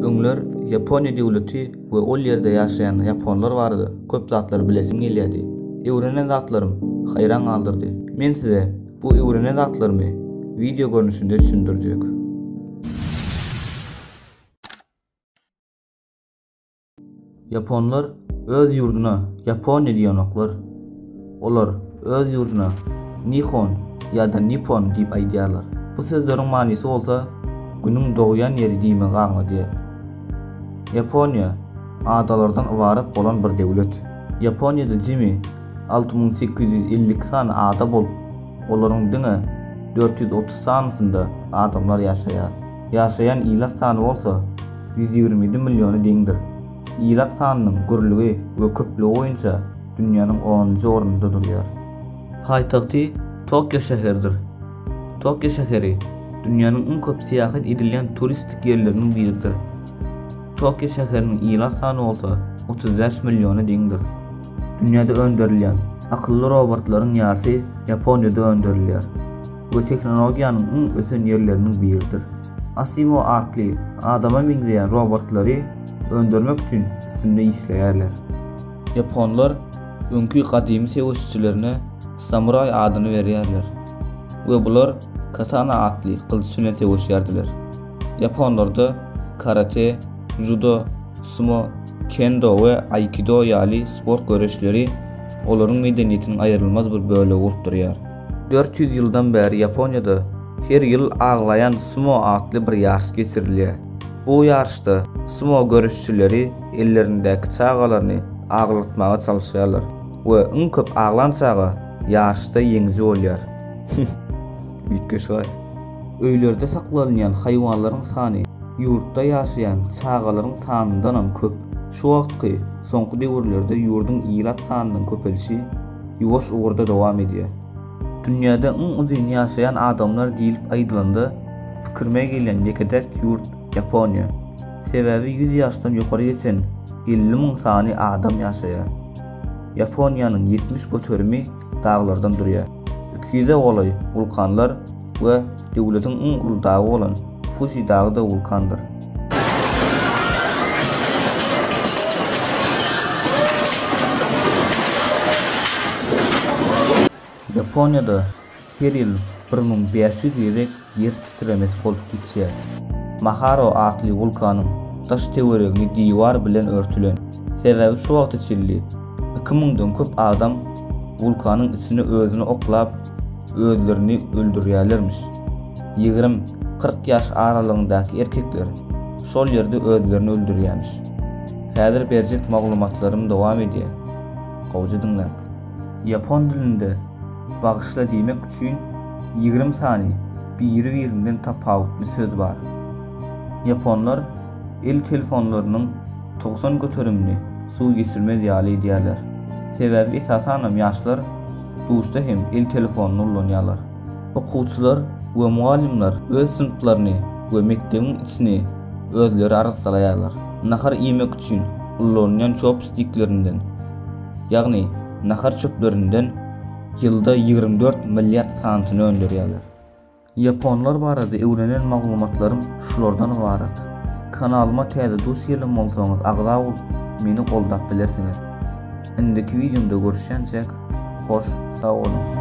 Öňler Ýaponiýa döwleti we ol ýerde ýaşaýan ýaponlar barada köp zatlary bilesim gelýärdi. Öwrenen zatlarym haýran galdyrdy. Men size bu öwrenen zatlarymy wideo görnüşinde düşündirjek. Ýaponlar öz ýurduna Ýaponiýa diýenoklar. Olar öz ýurduna Nihon ýa-da Nippon diýip aýdýarlar. Bu sözleriň manysy bolsa Günüň dogýan ýeri diýmegi aňladýar. Ýaponiýa adalardan ybarat bolan bir döwlet. Ýaponiýada jemi alty müň sekiz ýüz elli iki sany ada bolup, olaryň diňe dört ýüz otuz sanysynda adamlar ýaşaýar. ýaşaýan ilat sany bolsa ýüz ýigrimi ýedi milliona deňdir. Ilat sanynyň gürlügi we köplügi boýunça dünýäniň onunjy ornunda durýar. Paýtagty Tokio şäheridir. Tokio şäheri dünýäniň iň köp syýahat edilýän turistik ýerleriniň biridir. Tokio şäheriniň ilat sany bolsa otuz bäş milliona deňdir. Dünýäde öndürilýän akylly robotlaryň ýarsy Ýaponiýada öndürilýär. we tehnologiýanyň iň ösen ýerleriniň biridir. Asimo atly adama meňzeýän robotlary öndürmek üçin üstünde işleýärler. Ýaponlar öňki gadymy söweşçilerine samuraý adyny berýärler we bular katana atly gylyç bilen söweşýärdiler. Ýaponlarda karate, žudo, sumo, kendo we aikido ýaly sport göreşleri olaryň medeniýetiniň aýrylmaz bir bölegi bolup durýar. Dört ýüz ýyldan bäri Ýaponiýada her ýyl Aglaýan sumo atly bir ýaryş geçirilýär. Bu ýaryşda sumo göreşçileri ellerindäki çagalaryny aglatmaga çalyşýarlar we iň köp aglan çaga ýaryşda ýeňiji bolýar. Üýtgeşik-aý. Öýlerde saklanylýan haýwanlaryň sany ýurtda ýaşaýan çagalaryň sanyndanam köp. Şu wagtky, soňky döwürlerde ýurduň ilat sanynyň köpelişi, ýuwaş ugurda dowam edýär. Dünýäde iň uzyn ýaşaýan adamlar diýlip aýdylanda, pikirime gelýän ýeke-täk ýurt Ýaponiýa. Sebäbi ýüz ýaşdan ýokary geçen elli müň sany adam ýaşaýar. Ýaponiýanyň ýetmiş göterimi daglardan durýar. Iki ýüze golaý wulkanlar we döwletiň iň uly dagy bolan Fuji dagy-da wulkandyr. Ýaponiýada her ýyl bir müň bäş ýüz gezek ýer titremesi bolup geçýär. Maharo atly wulkanyň daş töweregini diwar bilen örtülen, sebäbi şu wagta çenli iki müňden köp adam wulkanyň içine özüni oklap özlerini öldürýärlermiş. Ýigrimi, kyrk ýaş aralygyndaky erkekler şol ýerde özlerini öldürýämiş. Häzir berjek maglumatlarym dowam edýär. Gowja diňläň. Ýapon dilinde bagyşla diýmek üçin ýigrimi sany biri-birinden tapawutly söz bar. Ýaponlar el telefonlarynyň togsan göterimini suw geçirmez ýaly edýärler. Sebäbi esasanam ýaşlar Duşda hem el telefonyny ulanýarlar. Okuwçylar we mugallymlar öz synplaryny we mekdebiň içini özleri arassalaýarlar. Nahar iýmek üçin ulanylýan çopstiklerinden, ýagny nahar çöplerinden ýylda ýigrimi dört milliard santyny öndürýärler. Ýaponlar barada öwrenen maglumatlarym şulardan ybarat. Kanalyma täze dus gelen bolsaňyz agza bolup meni goldap bilersiňiz. Indiki wideomda görüşýänçäk hoş sag boluň.